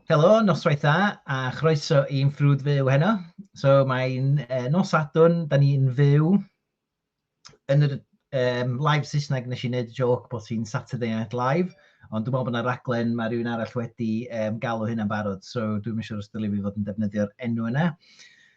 Helo, noswaith dda a chroeso i'n ffrwd fyw heno. So mae'n uh, nos adwn, da ni'n fyw yn yr um, live Saesneg nes i wneud joc bod hi'n Saturday Night Live, ond dwi'n meddwl bod yna raglen mae rhywun arall wedi um, galw hynna'n barod, so dwi'n siŵr os dylai fi fod yn defnyddio'r enw yna.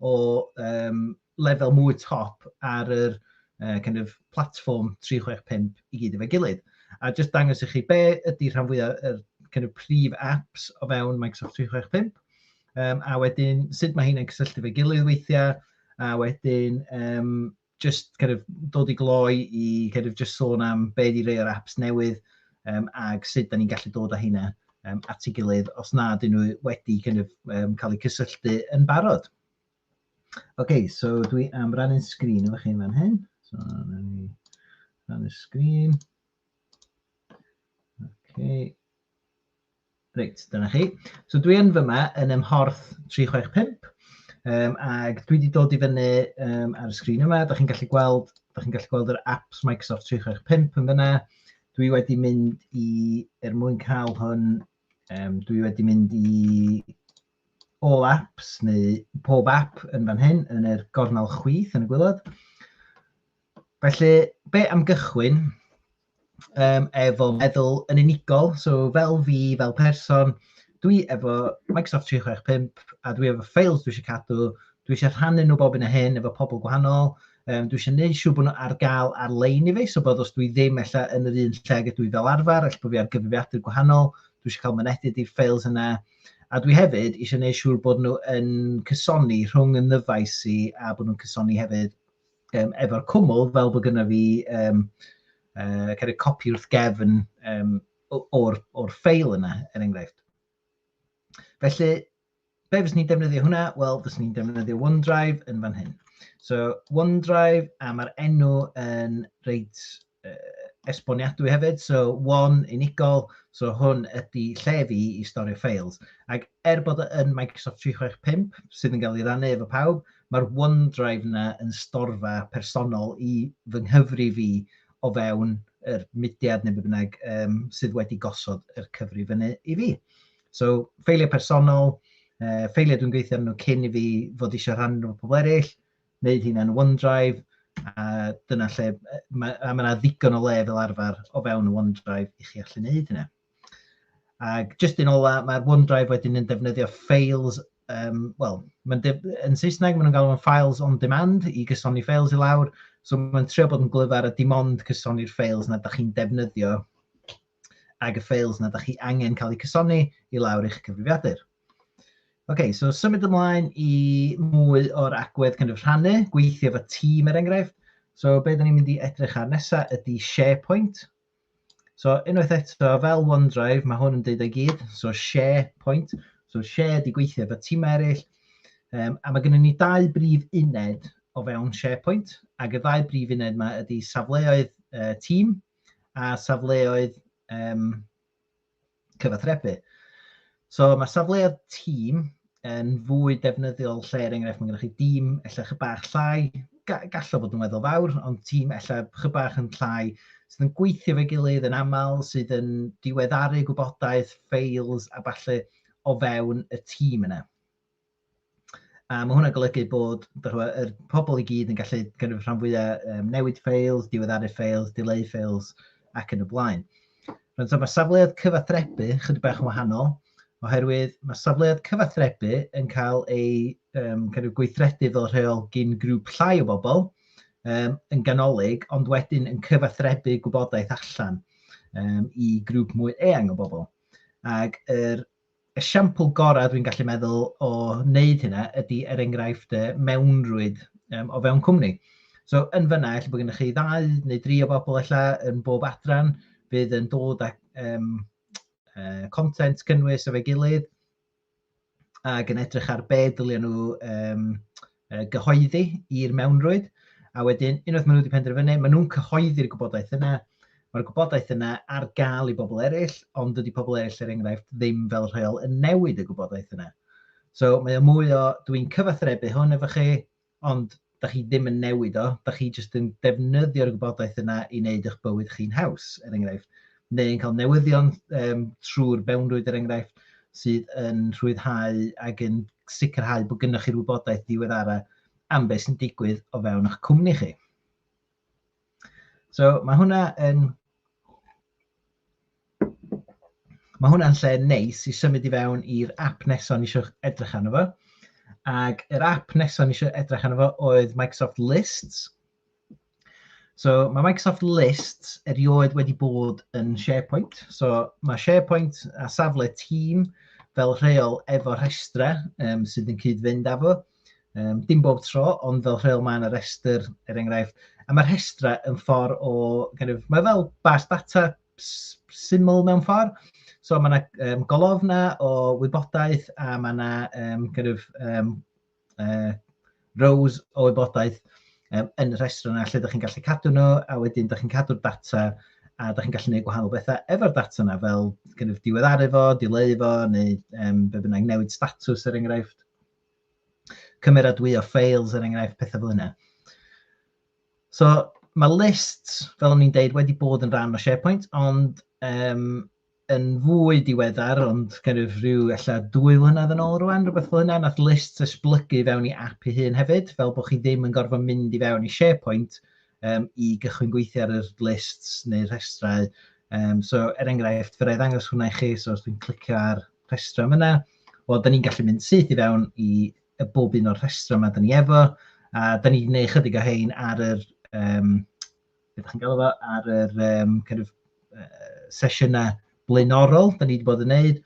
o um, lefel mwy top ar yr uh, kind of platform 365 i gyd efo'i gilydd. A jyst dangos i chi be ydy rhan fwyaf yr kind of prif apps o fewn Microsoft 365, um, a wedyn sut mae hynny'n cysylltu fe gilydd weithiau, a wedyn um, just kind of dod i gloi i kind of just sôn am be di rei o'r apps newydd um, ag sut da ni'n gallu dod â hynna um, at ei gilydd os na dyn nhw wedi kind of, um, cael eu cysylltu yn barod. OK, so dwi am rannu'n sgrin efo chi fan hyn. So, rannu'r sgrin. OK. Reit, dyna chi. So dwi yn fyma yn ym mhorth 365 um, ac dwi wedi dod i fyny um, ar y sgrin yma. Da chi'n gallu gweld, da chi'n gallu gweld yr apps Microsoft 365 yn fyna. Dwi wedi mynd i, er mwyn cael hwn, um, dwi wedi mynd i all apps neu pob app yn fan hyn yn yr gornel chwith yn y gwylod. Felly, be am gychwyn? yym efo meddwl yn unigol, so fel fi, fel person, dwi efo Microsoft 365 a dwi efo ffeils dwi eisiau cadw, dwi eisiau rhannu nhw bob un o hyn efo pobl gwahanol, um, dwi eisiau gwneud siŵr bod nhw ar gael ar-lein i fi, so bod os dwi ddim ella yn yr un lle gyda dwi fel arfer, ella bod fi ar gyfrifiadur gwahanol, dwi eisiau cael mynediad i'r ffeils yna, a dwi hefyd eisiau gwneud siŵr bod nhw yn cysoni rhwng y nyfais i a bod nhw'n cysoni hefyd um, efo'r cwmwl fel bod gyda fi um, uh, kind of copi wrth gefn um, o'r, or ffeil yna, er enghraifft. Felly, be fes ni'n defnyddio hwnna? Wel, fes ni'n defnyddio OneDrive yn fan hyn. So, OneDrive, a mae'r enw yn reit esboniadwy hefyd, so one unigol, so hwn ydy lle fi i storio ffeils. Ac er bod e yn Microsoft 365 sydd yn cael ei rannu efo pawb, mae'r OneDrive yna yn storfa personol i fy nghyfri fi o fewn yr mudiad neu be bynnag um, sydd wedi gosod yr cyfri fyny i fi. So, ffeiliau personol, uh, ffeiliau dwi'n gweithio arnyn nhw cyn i fi fod eisiau rhannu nhw pobl eraill, wneud hyn yn OneDrive, a dyna lle, mae yna ddigon o le fel arfer o fewn y OneDrive i chi allu wneud hynna. Ac jyst yn ola, mae'r OneDrive wedyn yn defnyddio files, um, wel, yn Saesneg maen nhw'n galw nhw'n files on demand i gysoni files i lawr, so mae'n trio bod yn glyfar a dim ond cysoni'r files na ydych chi'n defnyddio ag y files na ydych chi angen cael eu cysoni i lawr eich cyfrifiadur. OK, so symud ymlaen i mwy o'r agwedd kind of rhannu, gweithio efo tîm er enghraifft. So be da ni'n mynd i edrych ar nesaf ydy SharePoint. So unwaith eto, fel OneDrive, mae hwn yn dweud ei gyd. So SharePoint. So share di gweithio efo tîm eraill. Um, a mae gennym ni dau brif uned o fewn SharePoint. Ac y ddau brif uned yma ydy safleoedd uh, tîm a safleoedd um, cyfathrebu. So mae safleoedd tîm yn fwy defnyddiol lle, er enghraifft, mae gennych chi dîm efallai chydig bach llai, gallo fod yn weddol fawr, ond tîm efallai chydig bach yn llai sydd yn gweithio fe gilydd yn aml, sydd yn diweddaru gwybodaeth, ffeils a falle o fewn y tîm yna. A mae hwnna'n golygu bod yr pobl i gyd yn gallu kind of, rhan fwyaf um, newid ffeils, diweddaru ffeils, dileu ffeils ac yn y blaen. Rwy'n so, mae safleoedd cyfathrebu chydig bach yn wahanol, oherwydd mae safleoedd cyfathrebu yn cael ei um, kind of, gweithredu fel rheol gyn grŵp llai o bobl um, yn ganolig, ond wedyn yn cyfathrebu gwybodaeth allan um, i grŵp mwy eang o bobl. Ac yr Esiampl gorau dwi'n gallu meddwl o wneud hynna ydy er enghraifft y mewnrwyd um, o fewn cwmni. So yn fyna, efallai bod gennych chi ddau neu dri o bobl efallai yn bob adran fydd yn dod â um, uh, content cynnwys efo'i gilydd ac yn edrych ar be ddylen nhw um, gyhoeddi i'r mewnrwyd, a wedyn, unwaith maen nhw wedi penderfynu, maen nhw'n cyhoeddi'r gwybodaeth yna, mae'r gwybodaeth yna ar gael i bobl eraill, ond dydy pobl eraill, er enghraifft, ddim fel rheol yn newid y gwybodaeth yna. So mae o mwy o, dwi'n cyfathrebu hwn efo chi, ond da chi ddim yn newid o, da chi jyst yn defnyddio'r gwybodaeth yna i wneud eich bywyd chi'n haws, er enghraifft. neu yn cael newyddion um, trwy'r mewnrwyd er enghraifft sydd yn rhwyddhau ac yn sicrhau bod gennych chi'r wybodaeth ddiweddara am beth sy'n digwydd o fewn eich cwmni chi. So mae hwnna yn Mae hwnna'n lle neis i symud i fewn i'r app nesaf ni eisiau edrych arno fo. Ac yr app nesaf ni eisiau edrych arno fo oedd Microsoft Lists. So mae Microsoft Lists erioed wedi bod yn SharePoint. So mae SharePoint a safle tîm fel rheol efo rhestrau um, sydd yn cyd-fynd â fo. Um, dim bob tro, ond fel rheol mae yna restr, er enghraifft. A mae'r rhestrau yn ffordd o... Kind of, mae fel bas data syml mewn ffordd. So mae yna um, golofna o wybodaeth a mae yna um, kind of, um, uh, rows o wybodaeth um, yn y rhestr yna lle ydych chi'n gallu cadw nhw, a wedyn ydych chi'n cadw'r data a ydych chi'n gallu gwneud gwahanol bethau efo'r data yna, fel gynnaf diweddaru fo, dileu fo, neu um, be bynnag newid status er enghraifft. Cymeradwyo ffeils er enghraifft, pethau fel yna. So mae list, fel o'n i'n deud, wedi bod yn rhan o SharePoint, ond um, yn fwy diweddar, ond kind of rhyw ella dwy flynedd yn ôl rwan, rhywbeth fel hynna, nath list esblygu fewn i app ei hun hefyd, fel bod chi ddim yn gorfod mynd i fewn i SharePoint um, i gychwyn gweithio ar yr lists neu'r rhestrau. Um, so, er enghraifft, fe rai ddangos hwnna i chi, so os dwi'n clicio ar rhestrau yma, wel, da ni'n gallu mynd syth i fewn i y bob un o'r rhestrau yma da ni efo, a da ni wedi gwneud chydig o hein ar yr um, beth chi'n galw fo, ar yr um, kind of, uh, sesiynau blaenorol, da ni wedi bod yn neud.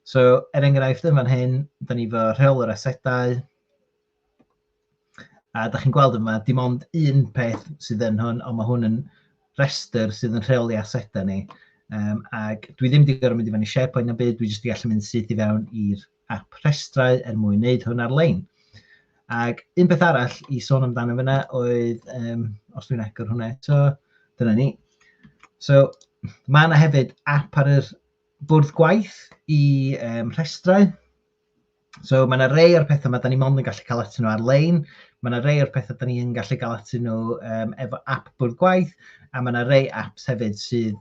So, er enghraifft yn fan hyn, da ni fo rheol yr asedau, a da chi'n gweld yma, dim ond un peth sydd yn hwn, ond mae hwn yn rhestr sydd yn rheoli asedau ni. Um, ac dwi ddim wedi gorfod mynd i fan i SharePoint na byd, dwi jyst wedi gallu mynd syth i fewn i'r ap rhestrau er mwyn wneud hwn ar-lein. Ac un peth arall i sôn amdano fyna oedd, um, os dwi'n agor hwnna eto, dyna ni. So, mae yna hefyd app ar yr bwrdd gwaith i um, rhestrau. So, mae yna rei o'r pethau mae da ni mond yn gallu cael atyn nhw ar-lein, Mae yna rei o'r pethau da ni yn gallu gael ati nhw um, efo app bwrdd gwaith, a mae yna rei apps hefyd sydd,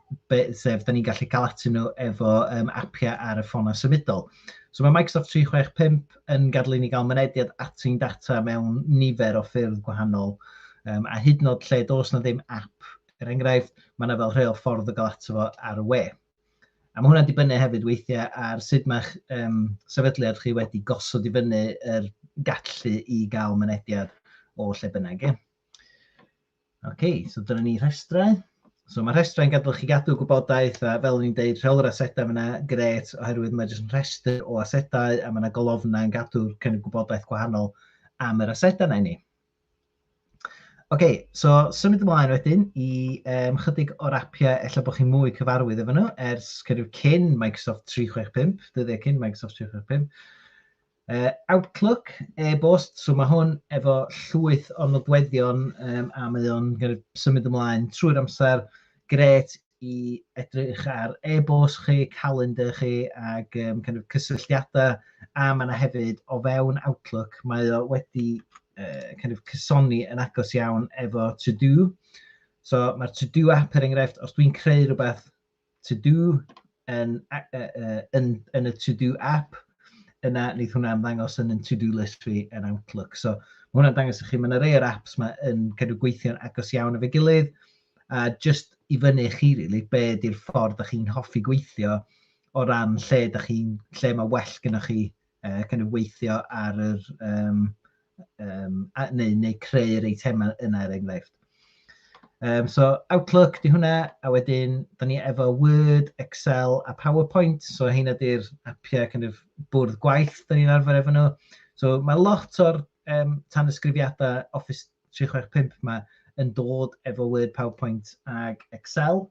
sef, da ni'n gallu cael ati nhw efo um, appiau ar y ffonau symudol. So mae Microsoft 365 yn gadw ni gael mynediad ati'n data mewn nifer o ffyrdd gwahanol, um, a hyd yn oed lle dos na ddim app, er enghraifft, mae yna fel rheol ffordd o gael ato fo ar y we. A mae hwnna'n dibynnu hefyd weithiau ar sut mae'ch um, sefydliad chi wedi gosod i fyny yr gallu i gael mynediad o lle bynnag. Ie? okay, so dyna ni rhestrau. So mae rhestrau'n gadw chi gadw gwybodaeth a fel ni'n deud rheolwr asedau yna gret oherwydd mae jyst yn rhestr o asedau a mae yna golofnau yn gadw'r cynnig gwybodaeth gwahanol am yr asedau yna i ni. OK, so symud ymlaen wedyn i um, chydig o'r apiau efallai bod chi'n mwy cyfarwydd efo nhw ers cyrwyr cyn Microsoft 365, dyddiau cyn Microsoft 365. Uh, Outlook, e-bost, so mae hwn efo llwyth o nodweddion um, a mae o'n symud ymlaen trwy'r amser, gret i edrych ar e-bost chi, calendr chi ac um, kind of cysylltiadau a mae yna hefyd o fewn Outlook mae o wedi uh, kind of cysoni yn agos iawn efo To Do. So mae'r To Do app er enghraifft, os dwi'n creu rhywbeth To Do yn, uh, uh, yn, yn y To Do app, yna wneud hwnna ymddangos yn yn To Do list fi yn Outlook. So mae hwnna'n dangos i chi, mae yna rei o'r apps mae yn kind of gweithio'n agos iawn efo'i gilydd, A jyst i fyny i chi rili, be ydy'r ffordd da chi'n hoffi gweithio o ran lle da chi'n lle mae well gyda chi uh, kind of weithio ar yr um, um, a, neu, neu creu'r eitemau yna er enghraifft. Um, so Outlook di hwnna, a wedyn da ni efo Word, Excel a PowerPoint, so hyn ydy'r apiau kind of, bwrdd gwaith da ni'n arfer efo nhw. So mae lot o'r um, tanysgrifiadau Office 365 'ma yn dod efo Word, PowerPoint ac Excel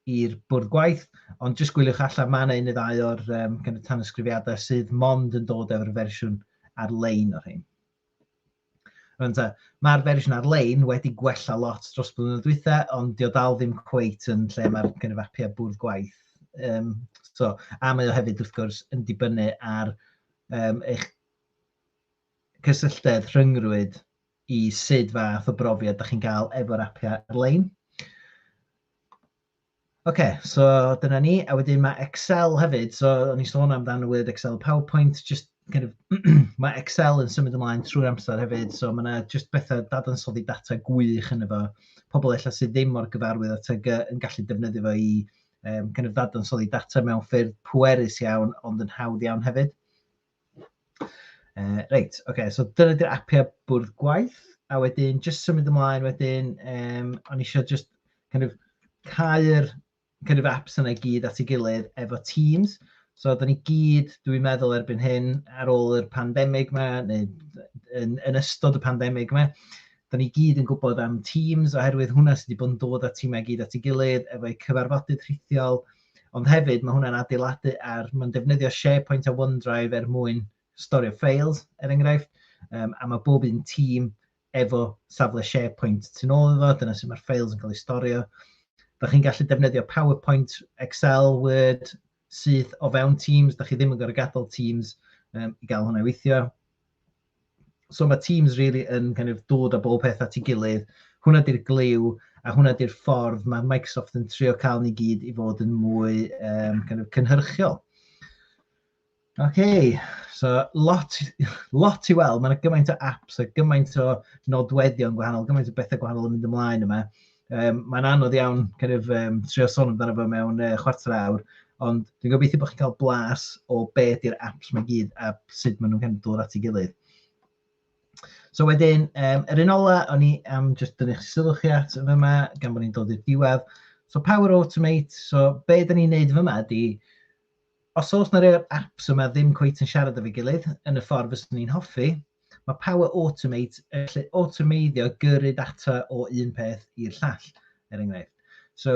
i'r bwrdd gwaith, ond jyst gwyliwch allan, mae yna un neu ddau o'r um, kind of tanysgrifiadau sydd mond yn dod efo'r fersiwn ar-lein o'r hyn. Rwy'n mae'r fersiwn ar-lein wedi gwella lot dros blynyddoedd dwytha, ond dio dal ddim cweit yn lle mae'r kind of apiau bwrdd gwaith. Um, so, a mae o hefyd, wrth gwrs, yn dibynnu ar um, eich cysylltedd rhyngrwyd i sut fath o brofiad da chi'n gael efo'r apiau ar-lein. OK, so dyna ni. A wedyn mae Excel hefyd, so o'n i'n sôn amdan y word Excel PowerPoint, just kind of, mae Excel yn symud ymlaen trwy'r amser hefyd, so mae yna just bethau dadansoddi data gwych yn efo. Pobl efallai sydd ddim mor gyfarwydd â TG yn gallu defnyddio fo i um, kind of dadansoddi data mewn ffyrdd pwerus iawn, ond yn hawdd iawn hefyd. Uh, reit, oce, okay, so dyna di'r apiau bwrdd gwaith, a wedyn, just symud ymlaen wedyn, um, o'n eisiau just kind of cael kind of apps yna i gyd at ei gilydd efo Teams. So, da ni gyd, dwi'n meddwl erbyn hyn, ar ôl yr pandemig yma, neu yn, yn ystod y pandemig yma, da ni gyd yn gwybod am Teams, oherwydd hwnna sydd wedi bod yn dod â tîmau gyd at ei gilydd, efo'u cyfarfodydd rhithiol, Ond hefyd, mae hwnna'n adeiladu ar, mae'n defnyddio SharePoint a OneDrive er mwyn storio ffeils, er enghraifft, um, a mae bob un tîm efo safle SharePoint tu ôl iddo, dyna sy'n mae'r ffeils yn cael eu storio. Da chi'n gallu defnyddio PowerPoint, Excel, Word, syth o fewn Teams, da chi ddim yn gorfod gadael Teams um, i gael hwnna i weithio. so mae teams really yn kind of dod â bob peth at ei gilydd, hwnna di'r glyw, a hwnna di'r ffordd mae Microsoft yn trio cael ni gyd i fod yn mwy um, kind of cynhyrchiol. OK, so lot, lot i weld, mae'n gymaint o apps a gymaint o nodweddion gwahanol, gymaint o bethau gwahanol yn mynd ymlaen yma. Um, mae'n anodd iawn kind of, um, trio sôn amdano fo mewn uh, chwarter awr, ond dwi'n gobeithio bod chi'n cael blas o be di'r apps mae gyd a sut maen nhw'n kind of dod at ei gilydd. So wedyn, um, yr un ola, o'n i am just dynnu chi sylw chi at yma, yma, gan bod ni'n dod i'r diwedd. So Power Automate, so be da ni'n neud yma ydy, Os oes 'na rei o'r apps yma ddim cweit yn siarad efo'i gilydd yn y ffordd fyswn i'n hoffi, mae Power Automate yn gallu awtomeiddio gyrru data o un peth i'r llall, er enghraifft. So,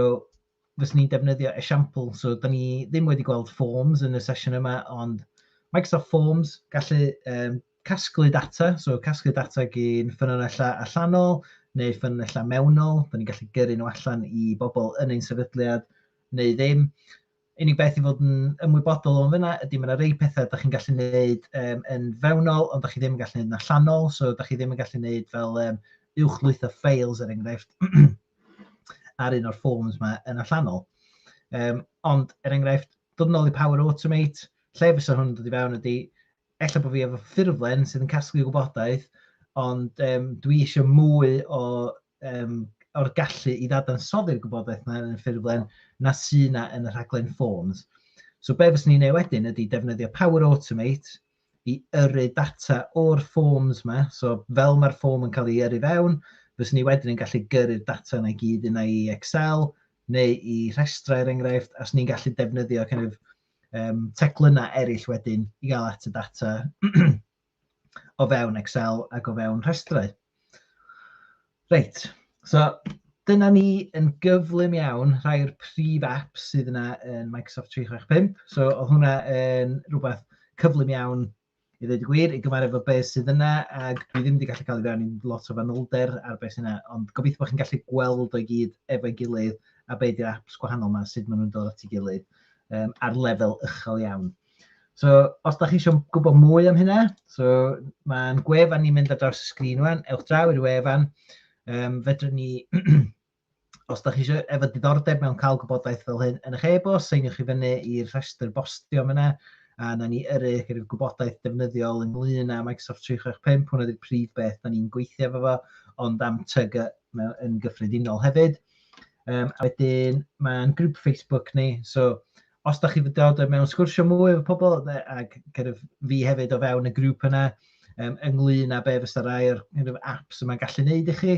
fyswn i'n defnyddio esiampl, so da ni ddim wedi gweld Forms yn y sesiwn yma, ond Microsoft Forms, gallu um, casglu data, so casglu data gyn ffynonellau allanol neu ffynonellau mewnol, da ni'n gallu gyrru nhw allan i bobl yn ein sefydliad neu ddim, Unig beth i fod yn ymwybodol o'n fyna ydy mae yna rei pethau da chi'n gallu gwneud um, yn fewnol, ond da chi ddim yn gallu gwneud yn allanol, so da chi ddim yn gallu gwneud fel um, uwchlwytho ffeils er enghraifft ar un o'r ffôns yma yn allanol. Um, ond er enghraifft, dod yn ôl i Power Automate, lle fysa hwn yn dod i fewn ydy, ella bod fi efo ffurflen sydd yn casglu gwybodaeth, ond um, dwi eisiau mwy o, um, o'r gallu i ddadansoddi'r gwybodaeth yna yn y ffurflen na sy yna yn y rhaglen Forms. So be fes ni'n ei wedyn ydy defnyddio Power Automate i yrru data o'r forms yma. So fel mae'r form yn cael ei yrru fewn, fes ni wedyn yn gallu gyrru'r data yna i gyd yna i Excel neu i rhestrau er enghraifft, a os ni'n gallu defnyddio kind of, um, teclynnau eraill wedyn i gael at y data o fewn Excel ac o fewn rhestrau. Reit, so dyna ni yn gyflym iawn rhai o'r prif apps sydd yna yn Microsoft 365. So oedd hwnna yn rhywbeth cyflym iawn I ddweud y gwir, i gymaru efo beth sydd yna, ac dwi ddim wedi gallu cael i fewn i'n lot o fanylder ar beth sydd yna, ond gobeithio bod chi'n gallu gweld o'i gyd efo'i gilydd a be di'r apps gwahanol yma, sut maen nhw'n dod at ei gilydd um, ar lefel uchel iawn. So, os da chi eisiau gwybod mwy am hynna, so, mae'n gwefan ni'n mynd ar draws y sgrin rwan, ewch draw i'r wefan, um, fedrwn ni Os da chi eisiau efo diddordeb mewn cael gwybodaeth fel hyn yn eich e-bost, seiniwch i fyny i'r rhestr bostio yma a na ni yrru gyda'r gwybodaeth defnyddiol ynglyn â Microsoft 365, hwnna ydy'r prif beth da ni'n gweithio efo fo, ond am tyg yn gyffredinol hefyd. Um, a wedyn mae'n grŵp Facebook ni, so os da chi fydod mewn sgwrsio mwy efo pobl ac cyrraedd fi hefyd o fewn y grŵp yna, um, ynglyn â be fysa rai o'r apps yma'n gallu neud i chi,